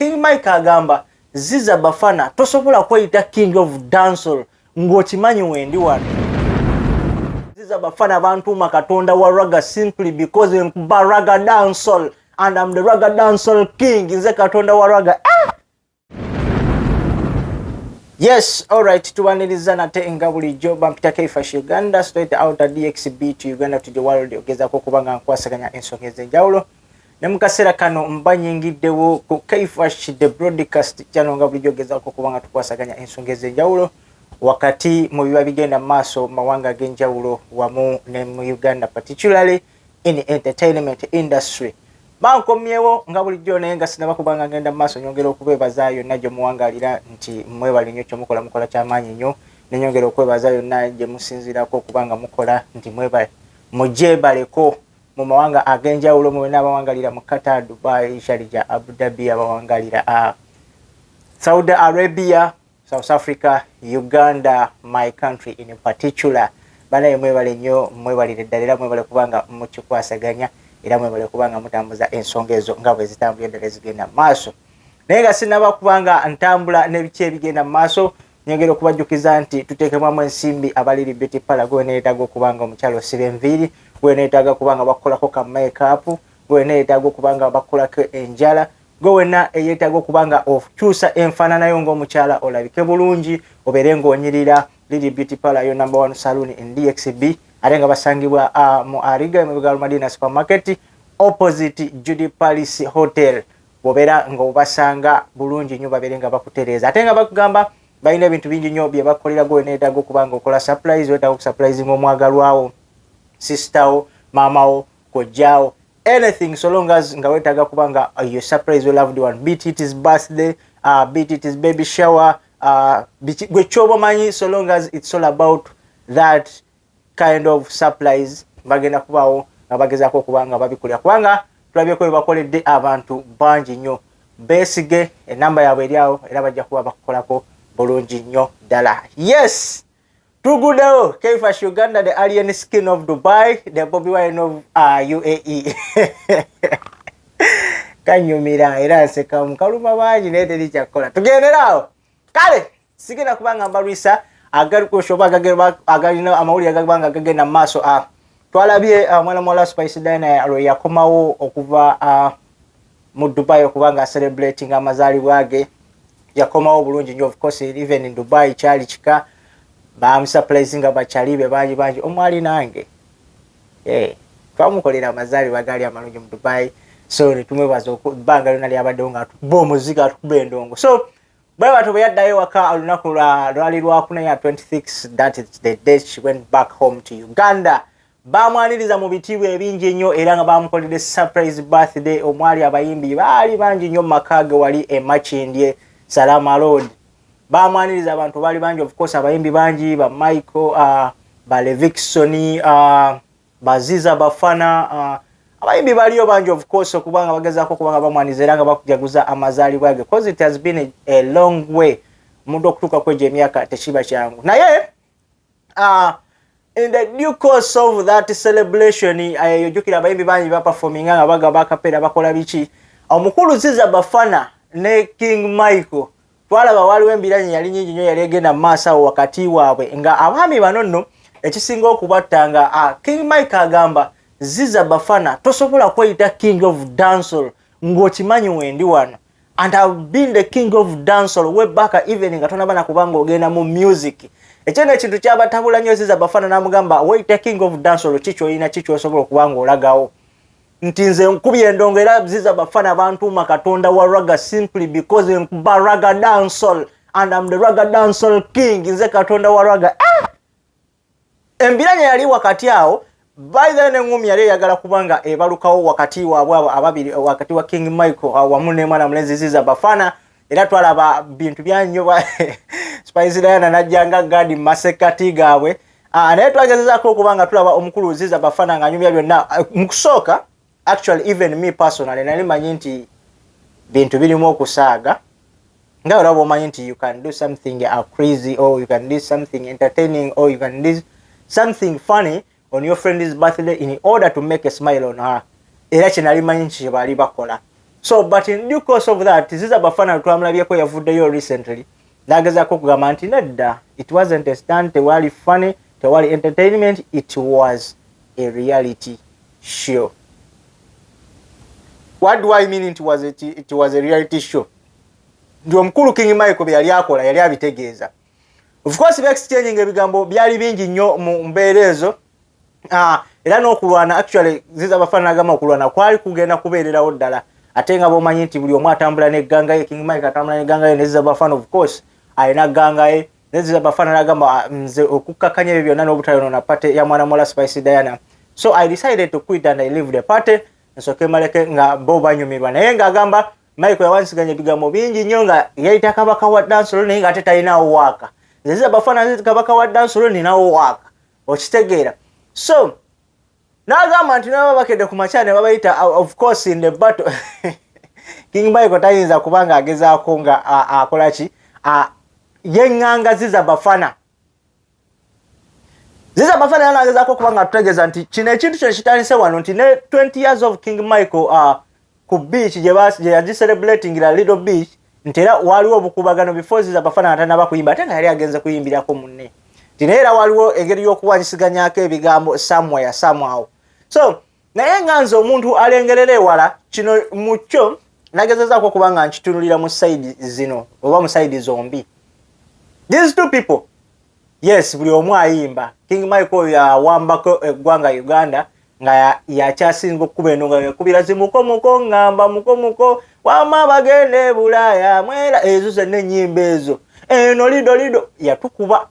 King Mike agamba Ziza Bafana tosobola kweyita King of Dancehall ng'okimanyi wendi wano. Ziza Bafana bantuuma katonda wa raga simply because nkuba raga dancehall and I'm the raga dancehall king nze katonda wa raga ah! Yes, all right. Tubaniriza nate nga bulijjo bampita Kaifash Uganda straight out of DXB to Uganda to the world ogezako kubanga nkwasaganya ensonga ez'enjawulo ne mu kaseera kano mba nyingiddewo ku kaifash the broadcast channel nga bulijjo gezaako okuba nga tukwasaganya ensonga ez'enjawulo wakati mu biba bigenda mu maaso mu mawanga ag'enjawulo wamu ne mu uganda particularly in entertainment industry bankomyewo nga bulijjo naye nga sinaba kuba nga ngenda mu maaso nyongera okubeebaza yonna gye muwangaalira nti mwebale nnyo kyemukola mukola kyamaanyi nnyo nenyongera okwebaza yonna gye musinziirako okuba nga mukola nti mwebale mujebaleko mu mawanga ag'enjawulo mu bonna abawangalira mu Qatar, Dubai, Sharjah, Abu Dhabi, abawangalira uh, Saudi Arabia, South Africa, Uganda, my country in particular. Banaye mwebale nnyo mwebalire ddala era mwebale kubanga mukikwasaganya era mwebale kubanga mutambuza ensonga ezo nga bwe zitambula eddala ezigenda mu maaso. Naye nga sinaba kubanga ntambula n'ebiki ebigenda mu maaso Nyongera okubajjukiza nti tuteekebwamu ensimbi abaliri beauty pala gwe weneetaaga okuba nga omukyalo osiba enviiri gwe weneetaaga kuba nga bakukolako ka makeup gwe weneetaaga okuba nga bakukolako enjala gwe wena eyeetaaga okuba nga okyusa enfaananayo ng'omukyala olabike bulungi obeere ng'onyirira liri beauty pala yo number one saloon in dxb ate nga basangibwa mu ariga emabega lwa madina supermarket opposite judy palace hotel bobera nga obasanga bulungi nyo babere nga bakutereza ate nga bakugamba balina ebintu bingi nyo byebakolera gwe nedaga okubanga okola surprise wetaga okusurprising omwagalwawo sistawo mamawo kojjawo anything so long as nga wetaga kuba nga uh, your surprise your loved one beat it is birthday uh, beat it is baby shower uh, gwe kyoba manyi so long as it's all about that kind of surprise bagenda kubaawo nga bagezaako okuba nga babikulira kubanga tulabyeko bebakoledde abantu bangi nnyo beesige enamba yaabwe eri awo era bajja kuba bakukolako bulungi nnyo ddala yes tugudewo keifash uganda the alien skin of dubai the bobi wine of uh, uae kanyumira era nsekamu kaluma bangi naye teri kyakkola tugenderaawo kale sigenda kuba nga mbalwisa agalikusoba agalina amawulire agagba nga gagenda mu maaso ah, twalabye ah, omwana muwala spice dina lwe yakomawo okuva ah, mu dubai okuba nga celebrating amazaalibwa ge yakomawo bulungi nyo ofcourse even in dubai kyali kika bamusuprise nga bakyali be bangi bangi omwali nange eh, twamukolera amazaalibwa gaali amalungi mu dubai so netumwebaza ebbanga lyona lyabaddewo nga atukuba omuziki atukuba endongo so bwe batyo bwe yaddayo ewaka olunaku lwali lwakuna ya 26 that is the day she went back home to uganda baamwaniriza mu bitiibwa ebingi ennyo era nga baamukolede surprise birthday omwali abayimbi baali bangi nnyo mu maka ge wali emakindye salama road baamwaniriza abantu baali bangi ofcourse abayimbi bangi ba michael uh, ba leviksoni uh, baziza bafana uh, abayimbi baliyo bangi of course okuba nga bagezaako okuba nga bamwaniza era nga bakujaguza amazaalibwa ge cause it has been a, a long way omuntu okutuuka ku egyo emyaka tekiba kyangu naye uh, in the due course of that celebration eh, yojukira abayimbi bangi baperforminga nga bagaba akapeera bakola biki omukulu ziza bafana ne king michael Twalaba waaliwo embiranye eyali nyingi nnyo yali egenda mu maaso awo wakati waabwe nga abaami bano nno ekisinga okubatta nga ah, King Mike agamba ziza bafana tosobola kweyita king of dancehall ng'okimanyi wendi wano and have been the king of dancehall way back even nga tonaba na kubanga ogenda mu music ekyo no ekintu kyabatabula nnyo ziza bafana n'amugamba weyita king of dancehall ki kyolina ki kyosobola okuba ng'olagawo nti nze nkubye endongo era ziza bafana bantuuma katonda wa raga simply because nkuba raga dansol and am the raga dansol king nze katonda wa raga ah! embiranya yali wakati awo baitha neŋumi yali eyagala kubanga ebalukawo wakati wabwe abo ababiri wakati wa king michael wamu nemwana mulenzi ziza bafana era twalaba bintu byanyoba spice diana najjanga gadi masekati gaabwe ah, naye twagezezako okuba nga tulaba omukulu ziza bafana nga anyumya byonna eh, mukusooka actually even me personally nali manyi nti bintu birimu okusaaga nga olaba omanyi nti you can do something a crazy or you can do something entertaining or you can do something funny on your friend's birthday in order to make a smile on her era kyenali manyi nti kyebaali bakola so but in due course of that ziza bafana twamulabyeko yavuddeyo recently nagezako okugamba nti nedda it wasn't a stand tewali funny tewali entertainment it was a reality show what do i mean it was a, it was a reality show nti omukulu king michael beyali akola yali abitegeeza of course ba exchange nga ebigambo byali bingi nnyo mu mbeera ezo uh, era n'okulwana actually ziza abafaanana agamba okulwana kwali kugenda kubeererawo ddala ate nga bomanyi nti buli omu atambula negganga ye king mike atambula negganga ye neziza bafana of course alina gganga ye neziza bafana nagamba ah, nze okukkakanya ebyo byonna n'obutayonona pate ya mwana muwala spice diana so i decided to quit and i live the party nsoke maleke nga bo banyumirwa naye ng'agamba Michael yawansiganya ebigambo bingi nnyo nga yayita kabaka wa dansolo naye nga ate talinawo waaka nzeza bafaanana nti kabaka wa dansolo ninawo waaka okitegeera so n'agamba nti naba bakedde ku makya ne babayita uh, of course in the battle king michael tayinza kuba nga agezaako nga akola ki yeŋŋangaziza bafana ziza amafana yalangezako okuba nga tutegeeza nti kino ekintu kino kitandise wano nti ne 20 years of king michael uh, ku beach gye yagiserebulatingira little beach nti era waliwo obukubagano before ziza amafana atanaba kuyimba ate nga yali agenze kuyimbirako munne nti naye era waliwo engeri y'okuwanyisiganyako ebigambo somewhere somehow so naye nga nze omuntu alengerera ewala kino mukyo nagezezaako okuba nga nkitunulira mu saidi zino oba mu saidi zombi these two people yes buli omu ayimba king mike oyo yawambako eggwanga uganda nga yakyasinga okukuba eno nga yakubira zimukomuko ngamba mukomuko wama bagenda ebulaaya mwera ezo zenna enyimba ezo eno lido lido yatukuba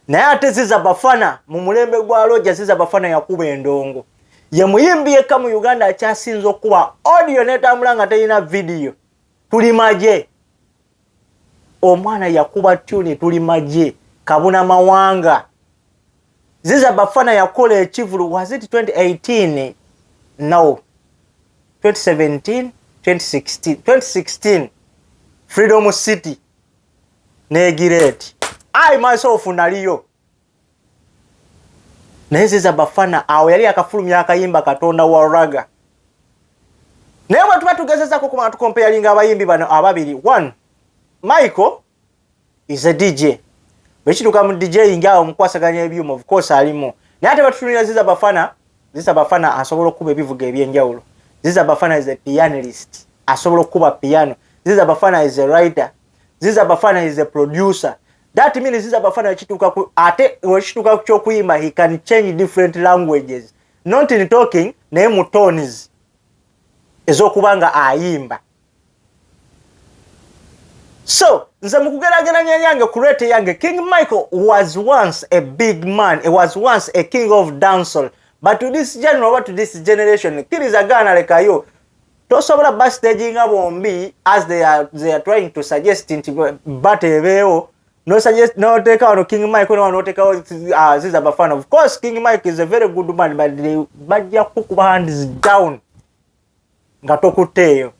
naye ate ziza bafana mu mulembe gwa loja ziza bafana yakuba endongo ye muyimbi yekka mu uganda akyasinza okukuba audio netambula nga terina vidiyo tuli magye omwana yakuba tuni tuli magye kabuna mawanga ziza bafana yakola ekivulu was it 2018 no 2017 2016 2016 freedom city negira eti i myself naliyo naye ziza bafana awo yali akafulumya akayimba katonda wa raga naye bwe tuba tugezezako kuba nga tukompeyalinga abayimbi bano ababiri one michael is a dj bwekituuka mu dj nga awo mukwasaganya ebyuma of course alimu naye ate batutunira ziza bafana Ziza Bafana asobola okukuba ebivuga ebyenjawulo. Ziza Bafana is a pianist. Asobola okukuba piano. Ziza Bafana is a writer. Ziza Bafana is a producer. That means Ziza Bafana kituka ku ate wekituka kyo kuimba he can change different languages. Not in talking naye mu tones ezokubanga ayimba. so nze mukugerageranya yange ku rate yange king michael was once a big man was once a king of dancel but to this general oba to this generation kiriza gaana lekayo tosobola bastaginga bombi as they are, they are trying to suggest nti bat ebeewo noteka wano king mike nowa notekawo uh, ziza bafana of course king mike is a very good man but bajja kukuba hands down nga tokutteeyo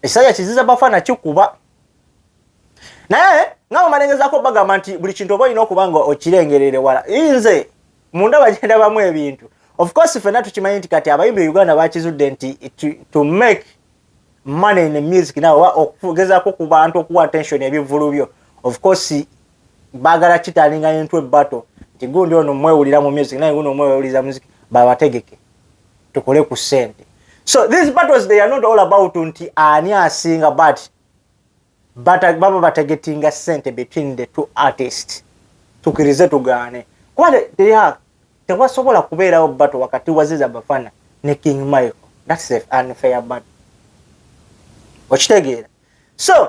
ekisajja kiziza bafa nakikuba naye nga bamalengezako bagamba nti buli kintu oba olina okuba nga okirengerere wala nze munda bagenda bamu ebintu ofcourse fenna tukimanyi nti kati abayimbi e uganda bakizudde nti to make money in music nawe oba okugezako ku bantu okuwa attention ebivulu byo ofcourse bagala kitalinga into battle nti gundi ono mwewulira mu music naye guno mwewuliza music babategeke tukole ku sente so these battles they are not all about nti ani asinga but baba bategetinga sente between the two artist tukirize tugaane kuba teya tewasobola kubeerawo battle wakati waziza bafana ne king michael that's a unfair battle okitegeera so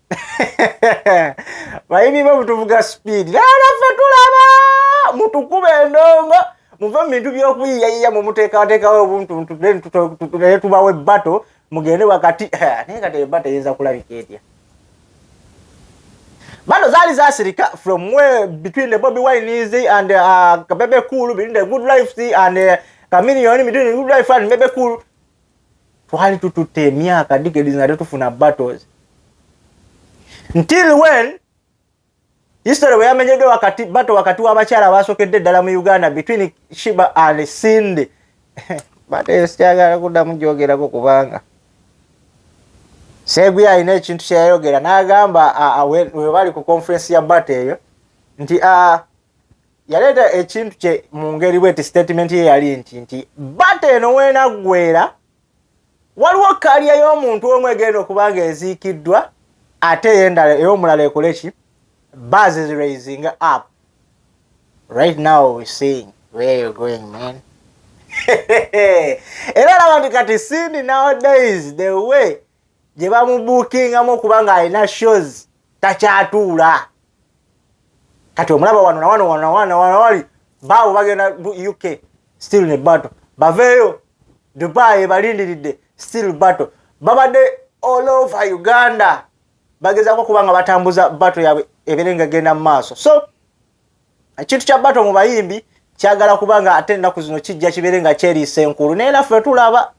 bayini bo mutuvuga speed lala fe tulaba mutukube endongo muve mu bintu byokuyiyayiya mwe muteekateekawo obuntuntu naye tubawo ebbato mugende wakati naye kati ebbato eyinza kulabika etya bano zaali zasirika from way between the bobi wines and uh, bebe cool between the good life and uh, chameleon between the good life and bebe cool twali tututte emyaka digedi nga tetufuna battles ntil wen history weyamenyeddwa wakati bato wakati w'abakyala abaasokedde eddala mu uganda between shiba and sindi bato eyo sikyagala kuddamu gyogerako kubanga seguya alina ekintu kyeyayogera n'agamba webali ku conference ya bato eyo nti yaleeta ekintu kye mu ngeri bweti sitatimenti ye yali nti nti bata eno weenaggwera waliwo kalya y'omuntu omu egenda okuba nga eziikiddwa ate eyendala ey'omulala ekole ki bases raising up right now we seeing where you're going man era laba nti kati sindi nowadays the way gye bamubuukingamu okuba ng'alina shows takyatuula kati omulaba wano nawano wanawanawali baawo bagenda uk still ne battle baveeyo dubai ebalindiridde still battle babadde all over uganda bagezako okuba nga batambuza battle yabwe ebeere nga genda mu maaso so ekintu kya bato mu bayimbi kyagala kuba nga ate ennaku zino kijja kibeere nga kyeriisa enkulu naye naffe tulaba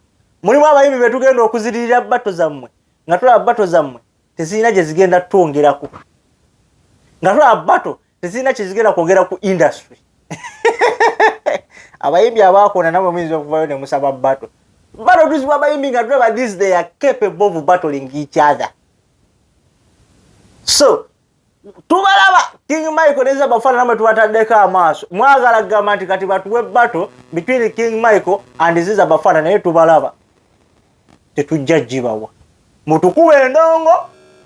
mulimu abayimbi be tugenda okuziririra bato zammwe nga tulaba bato zammwe tezirina gye zigenda twongerako nga tulaba bato tezirina kyezigenda kwogera ku industry abayimbi abaakona namwe muyinza okuvayo ne musaba bato bato tuzibwa abayimbi nga tulaba this they are capable of battling each other so tubalaba king michael neza bafaana namwe tubataddeko amaaso mwagala kugamba nti kati batuwe battle between king michael and ziza bafaana naye tubalaba tetujja gibawa mutukuba endongo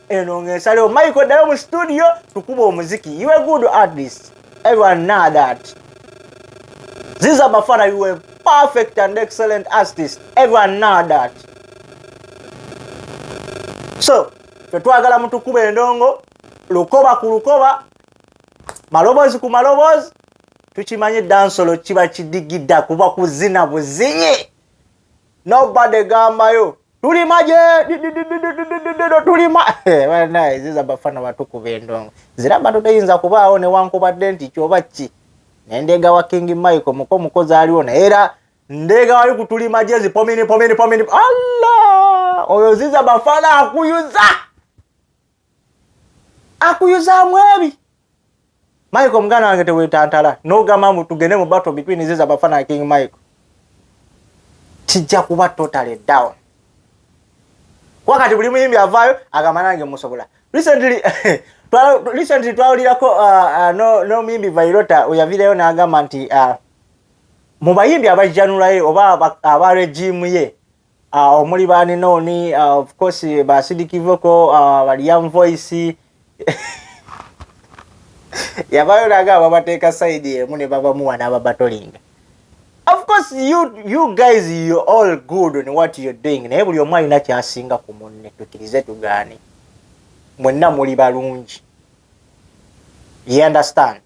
eno ngaensalewo michael ddayo mu studio tukuba omuziki you a good artist everyone know that ziza bafaana you a perfect and excellent artist everyone know that so fetwagala mutukuba endongo lukoba ku lukoba maloboozi ku maloboozi tukimanyi dansolo kiba kidigida kuba kuzina buzinyi nobody gambayo tulima gye tulima ziza bafana batukuba endongo ziraba to teyinza kubaawo newankubadde nti kyoba ki nendeegawa king michael muko mukozi aliwo naye era ndege wali kutuli majezi pomini pomini pomini allah oyo ziza bafana akuyuza akuyuza mwebi Michael mgana wange tewetantala nogamba mbu tugende mu battle between ziza bafana na king Michael kijja kuba totally down wakati buli muyimbi avaayo agamba nange musobola recently recently twawulirako uh, uh, no, no muyimbi vairota oyavireyo nagamba nti uh, Mu bayimbi abajjanula ye oba aba regimu ye uh, omuli baninooni uh, of course basidikivoko uh, baliyam voice yabayo naga ababateeka saidi emu ne babamuwa n'ababatolinga of course you, you guys you all good on what you're doing naye buli omu alina kyasinga ku munne tukirize tugaane mwenna muli balungi you understand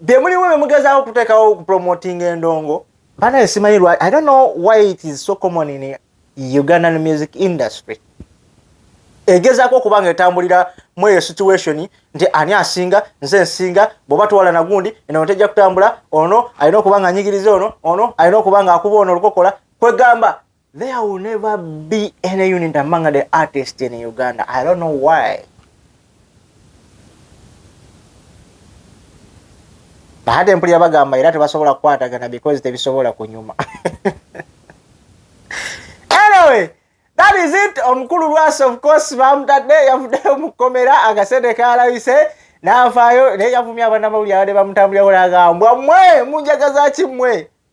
bye mulimu bye mugezaako okuteekawo okupromotinga endongo banaye simanyi lwa i don't know why it is so common in ugandan music industry egezaako okuba nga etambulira mu eyo situation nti ani asinga nze nsinga bwoba twala nagundi eno tejja kutambula ono alina okuba nga anyigiriza ono ono alina okuba nga akuba ono olukokola kwegamba There will never be any unit among the artists in Uganda. I don't know why. Bahati mpulira bagamba era tebasobola kukwatagana because tebisobola kunyuma. anyway, that is it. Omukulu Lwasi of course bamutadde yavuddeyo mu kkomera akasente kaalabise n'avaayo naye yavumya abanamawulire abadde bamutambulira wona agambwa mwe munjagaza ki mwe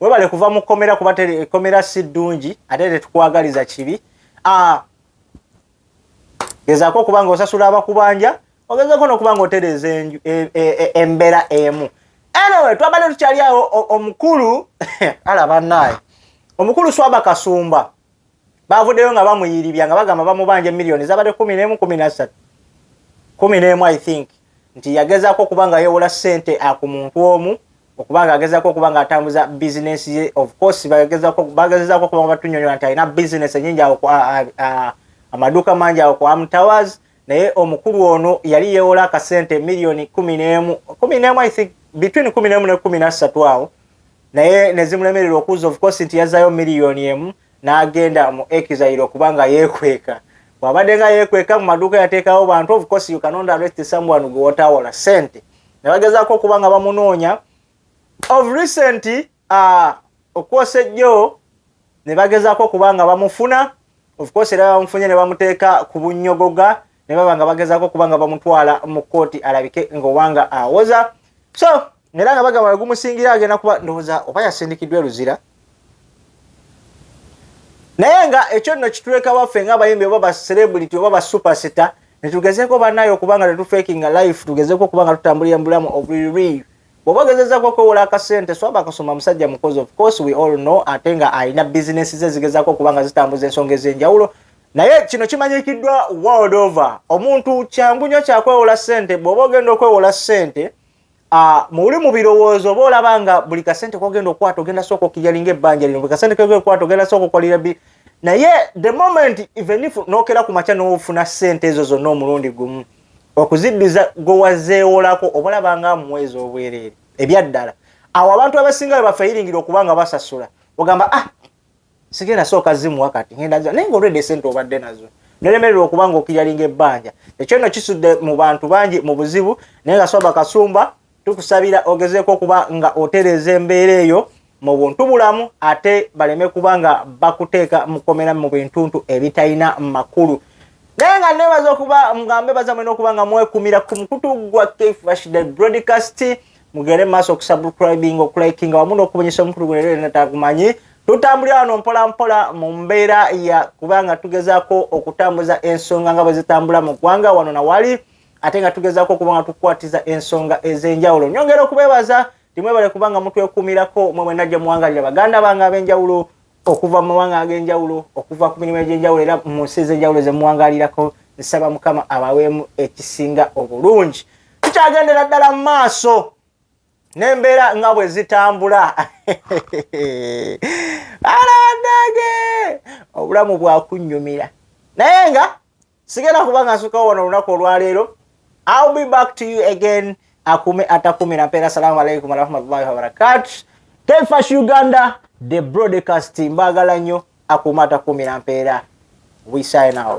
webale kuva mu kkomera kuba ekkomera si ddungi ate tetukwagaliza kibi ah, gezaako okuba nga osasula abakubanja ogezeeko nokuba nga otereeza e, e, e, embeera emu anyway twabadde tukyali awo omukulu ala banaye omukulu swaba kasumba Baavuddeyo nga bamuyiribya nga bagamba bamubanja miliyoni zabadde kumi n'emu kumi nassatu kumi n'emu i think nti yagezaako okuba nga yewola ssente ku muntu omu okuba nga agezaako okuba nga atambuza bizinesi ye of course bagezezaako okuba nga batunyonyola nti alina bizinesi enyingi awo amaduuka mangi awo ku amtowers naye omukulu ono yali yewola akasente miliyoni kumi n'emu kumi n'emu i think between kumi n'emu ne kumi nassatu awo naye nezimulemerera okuuza of course nti yazayo miliyoni emu nagenda mu exile okuba nga yekweka bwabadde nga yekweka mu maduuka yateekawo bantu of course you cannot arrest someone gwe watawola sente ne bagezaako okuba nga bamunoonya of recent uh, okwosa ejjo ne bagezaako okuba nga bamufuna of course era bamufunye ne bamuteeka ku bunnyogoga ne baba nga bagezaako okuba nga bamutwala mu kkooti alabike nga obanga awoza so era nga bagamba wegumusingira agenda kuba ndowooza oba yasindikiddwa eluzira naye nga ekyo nno kituleka baffe nga abayimbi oba bacelebrity oba basupersita netugezeko banaye okubanga tetufekinga life tugezeko okubanga tutambulira mubulamu obuliri bwoba ogezezako okwewola akasente swaba akasoma musajja mukozi of course we all know ate nga alina bizinesi ze zigezako okubanga zitambuza ensonga ezenjawulo naye kino kimanyikiddwa world over omuntu kyangu nyo kyakwewola sente bwoba ogenda okwewola sente Ah, muli mu birowoozo oba olaba nga buli kasente kogenda okukwata ogenda sooka okiryalinga ebbanja lino buli kasente kogenda okukwata ogenda sooka okolera bi naye the moment even if nokera ku makya nofuna sente ezo zonna omulundi gumu okuziddiza gwe wazeewolako oba olaba nga muwezi obwereere ebyaddala awo abantu abasinga we bafayiringira okuba nga basasula ogamba ah sigenda sooka zimuwa kati ngenda ziwa naye ngaolwedde esente obadde nazo nolemererwa okuba nga okiyalinga ebbanja ekyo no kisudde mu bantu bangi mu buzibu naye nga swaba kasumba tukusabira ogezeeko okuba nga otereeza embeera eyo mu buntu bulamu ate baleme kuba nga bakuteeka mukomera mu bintuntu ebitalina makulu naye nga nebaza okuba ngambe baza mwena okuba nga mwekumira ku mukutu gwa kfashda broadcast mugere maaso okusubscribing okulikinga wamu n'okubunyisa omukulu guno era natagumanyi tutambulira wano mpola mpola mu mbeera ya kubanga tugezaako okutambuza ensonga nga bwe zitambula mu ggwanga wano na wali ate nga tugezaako okuba nga tukwatiza ensonga ez'enjawulo nyongera okubeebaza timwebale kubanga mutwekumirako mwe mwenna gye muwangalira baganda bange ab'enjawulo okuva mu mawanga ag'enjawulo okuva ku mirimu egy'enjawulo era mu nsi ez'enjawulo ze muwangalirako nsaba mukama abaweemu ekisinga obulungi tukyagendera ddala mu maaso n'embeera nga bwe zitambula alawanage obulamu bwakunnyumira naye nga sigenda kuba nga nsukawo wano olunaku olwaleero ill be back to you again akume atakumira mpeera assalamu alaikum warahmatullahi wabarakatu tefash uganda the broadcast mbagala nnyo akume atakumira mpeera we sign out